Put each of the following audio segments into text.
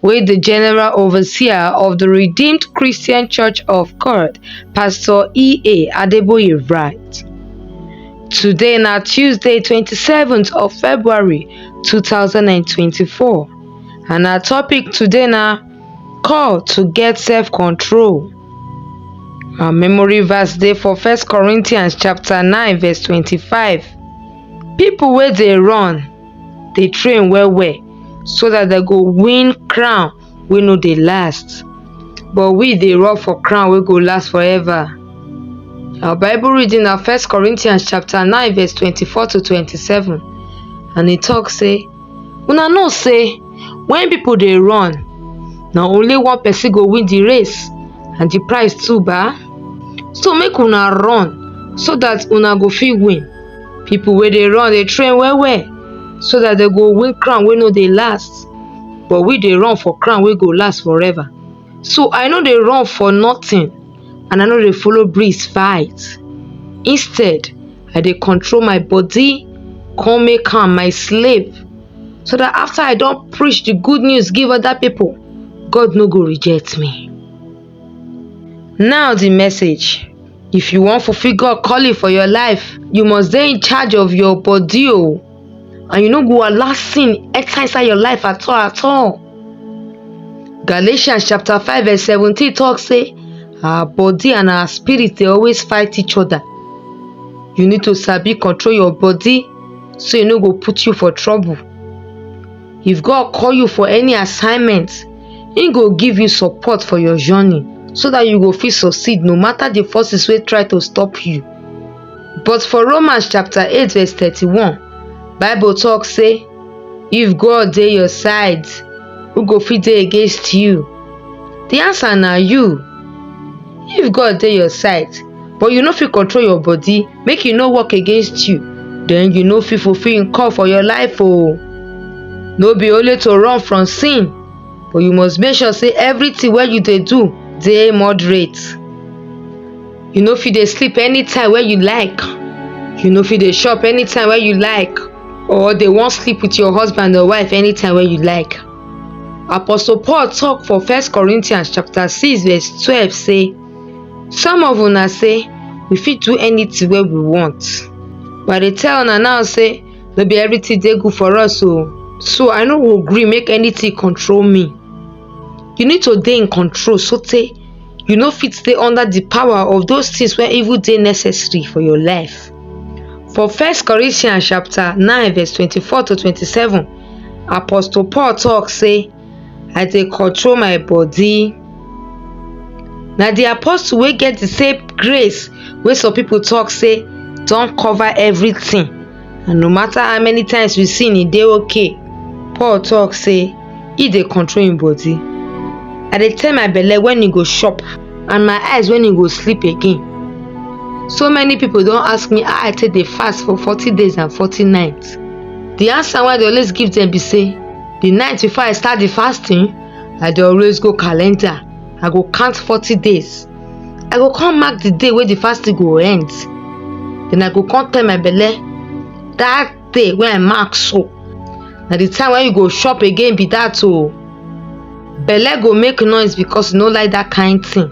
wey di general overseer of di redeemed christian church of kord pastor e a adeboye write today na tuesday 27th of february 2024 and our topic today na call to get self control our memory verse dey for first corinthians chapter 9 verse 25 people wey dey run dey train well well so that dem go win crown wey no dey last but we dey run for crown wey go last forever our bible reading na first corinthians chapter 9 verse 24 to 27 and e talk say una know say when people dey run na only one person go win the race and the prize too ba so make una run so that una go fit win People wey dey run dey train well well so that they go win crown wey no dey last but we dey run for crown wey go last forever so i no dey run for nothing and i no dey follow breeze fight instead i dey control my body come make am my slave so that after i don preach the good news give other people god no go reject me Now the message. If you wan fulfill God calling for your life, you must dey in charge of your body o. And you no go allow sin enter inside your life at all at all. Galatians chapter 5 verse 17 talk say our body and our spirit dey always fight each other. You need to sabi control your body so e no go put you for trouble. If God call you for any assignment, He go give you support for your journey so that you go fit succeed no matter the forces wey try to stop you. But for Romans chapter 8 verse 31, Bible talk say, If God dey your side, who go fit dey against you? The answer na you. If God dey your side, but you no fit control your body, make e no work against you then you no fit fulfill him call for your life oh no be only to run from sin but you must make sure say everything wey you dey do dey moderate you no fit dey sleep anytime wey you like you no fit dey chop anytime wey you like or dey wan sleep with your husband or wife anytime wey you like apostle paul talk for first corinthians chapter six verse twelve say Some of una say we fit do anything wey we want but I dey tell una now say no be everything dey good for us o. So I no go gree make anything control me. You need to dey in control so tey you no fit stay under the power of those things wey even dey necessary for your life. For First Corinthians chapter nine verse twenty-four to twenty-seven, Apostle Paul talk say I dey control my body. Na the apostle wey get the same grace wey some people talk say don cover everything and no matter how many times we sin e dey okay. Paul talk say e dey control im body. I dey tell my belle when e go chop and my eyes when e go sleep again. So many people don ask me how I take dey fast for forty days and forty nights. The answer wey I dey always give dem be say the night before i start the fasting i dey always go calendar i go count forty days i go come mark the day wey the fasting go end then i go come tell my belle that day wey i mark so na the time wey you go chop again be that o belle go make noise because e no like that kind thing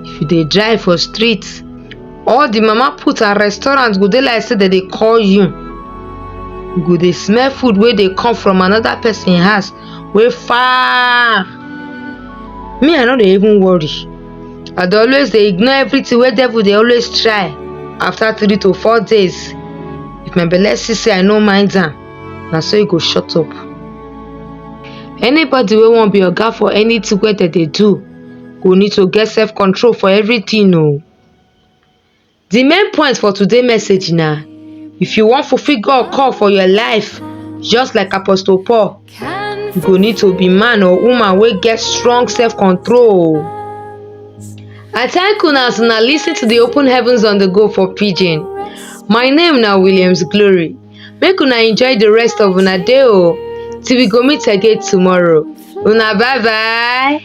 if you dey drive for street all the mama put and restaurant go dey like say dem dey call you you go dey smell food wey dey come from another person house wey far me i no dey even worry i dey always dey ignore everything wey devil dey always try after three to four days if my belle see say i no mind am na so e go shut up anybody wey wan be oga for anything wey dem dey do go need to get self control for everything o The main point for today message na if you wan fulfill God call for your life, just like Apostle Paul, you go need to be man or woman wey get strong self-control. I thank una as una lis ten to the Open Heavens on the Go for Pidgin. My name na Williams Glory. Make una enjoy the rest of una day o. Till we go meet again tomorrow. Una bye bye.